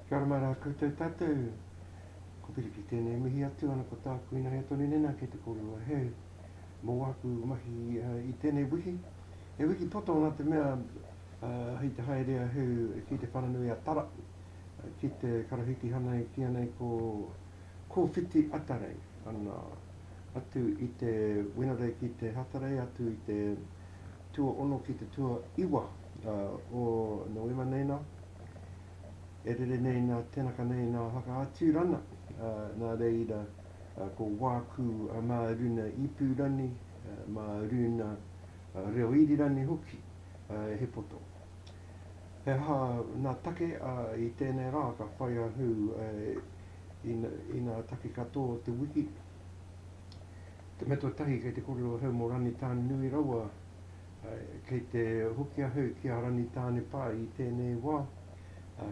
Kia ora mai rā koutou tātou. Ko Piripi tēnei mihi atu ana ko tāku ina hea tonu nena kei te korua he mō aku mahi uh, i tēnei wiki. He wiki poto nā te mea uh, hei te haere a heu ki te whananui a Tara uh, ki te karahitihana ki anei ko Ko Whiti Atarei ana atu i te Wenerei ki te Hatarei atu i te tuaono ki te tuaiwa o Noema nei na, e rere nei na tenaka nei na Whakaaturana, na reira ko Waku ma runa Ipurani, ma runa Reoirirani hoki he poto. He aha ngā take a i tēnei rā ka whai a Hu i ngā take katoa o te wiki? Te mea tuatahi kei te kore o Hu mō Ranitāne nui rawa, kei te hoki a Hu ki a Ranitāne pā i tēnei wā,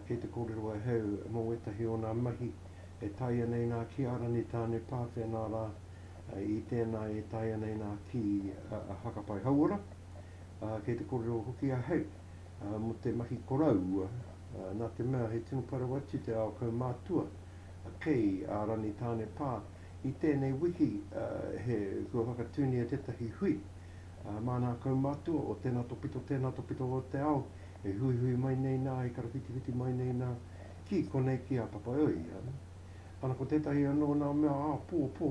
kei te kōrero a Hu mō wētahi o ngā mahi e taea nei ngā ki a Ranitāne pā whenā rā i tēnā e taea nei ngā ki a Hakapai Hauora. ā, kei te kōrero hoki a Hake mō te mahi koroua, nā te mea he tino parau atu te ao kaumātua kei a Rangitāne pā. I tēnei wiki he kua whakatūngia tētahi hui mā ngā kaumātua o tēnā topito, tēnā topito o te ao e huihui mai nei nā, e karawhitiwhiti mai nei nā ki konei ki a Papaiohi. Ana ko tētahi anō nā mea āpōpō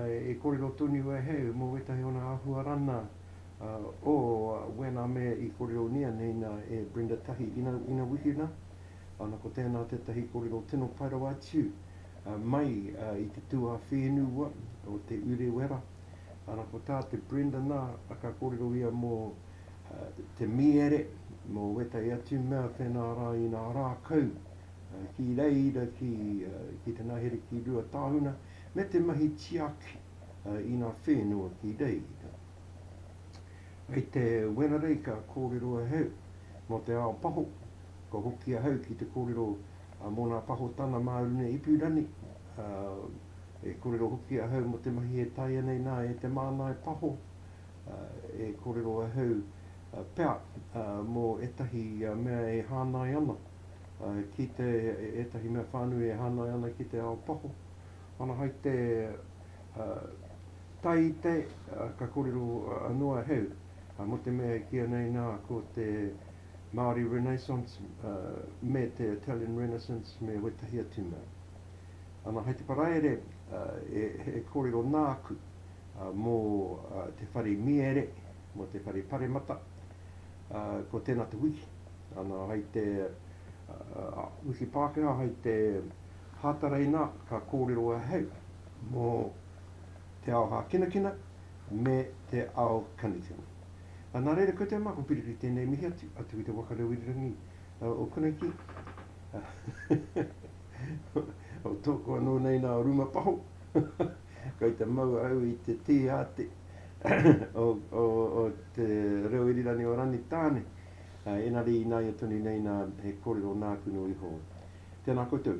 e kōrero tonu e Hake mō wētahi o ngā āhua rana, oh when a me i korionia nei na e Brenda tahi ina ina wiki na ana ko tena tetahi korero tino pai rawa atu mai i te tu a whenu wa o te urewera ana ko ta te Brenda na ka korero ia mo te miere mo wetai atu mea whena ra ina ra kau ki reira ki ki te nahere ki rua tahuna me te mahi tiaki i ngā whenua ki reira. Kei te Wenarei ka kōrero ahau mō te ao paho, ka hoki ahau ki te kōrero mō ngā pahotanga mā runga ipurangi, e kōrero hoki ahau mō te mahi e taea nei nā e te māngai paho, e kōrero ahau pea mō ētahi mea e hāngai ana ki te, ētahi mea whānui e hāngai ana ki te ao paho. Ana hai te tai i te, ka korero anō a Heu, mo te mea e kīa nei nā ko te Māori Renaissance me te Italian Renaissance me wētahi atu mea. Ana hai te paraire e korero nāku mo te whare miere, mo te whare paremata, ko tēnā te wiki, ana hai te wiki Pākehā hai te Hātaraina ka kōrero ahau mō te ao hākinakina me te ao kanutini. Nā reira koutou mā, ko Piriri tēnei mihi atu, atu ki te waka reo irirangi o Karaiti, o tōku anō nei nā o Rumapaho, kei te mau au i te tīhāti o te reo irirangi o Rangitāne, engari ināia tonu nei nā he kōrero nāku noa iho. Tēnā koutou.